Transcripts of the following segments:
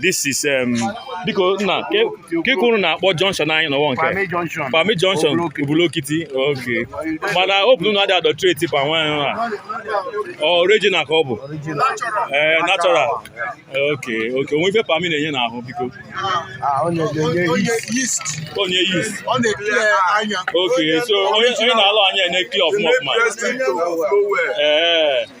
this is um, biko nna ka ị kwuru na-akpọ junction anyị n'ọwa nke Palmy junction Ubulu-Okiti okay mana ọ bụrụ na adị adulterate palm wine a original ka ọ bụ ee eh, natural okay okay o nwe ife palmy na-enye n'ahụ because ah, o nwe yeast okay so onye na-ala anya na-eclear ọfụma ọfụma ee eh.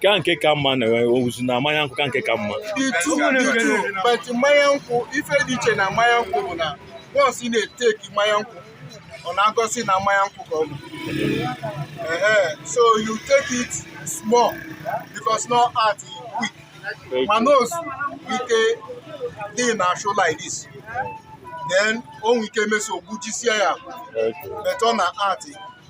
kee nke ka mma na ozu na mmanya nkwụ kee nke ka mma mmanya nkwụ ife dị iche na mmanya nkwụ bụ na once ị na-etake mmanya nkwụ ọ na-agọsi na mmanya nkwụ ka ọ bụ so you take it small because no act quick mana ozu ike dị na show like this then o nwere ike mesịa o gbujisie ya but ọ na-act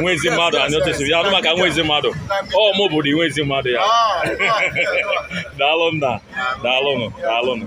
nwa ezi mmadụ anyị otu siri ya anụ maka nwa ezi mmadụ ọ mụ bụ the nwa ezi mmadụ ya daalụ nna daalụnụ daalụnụ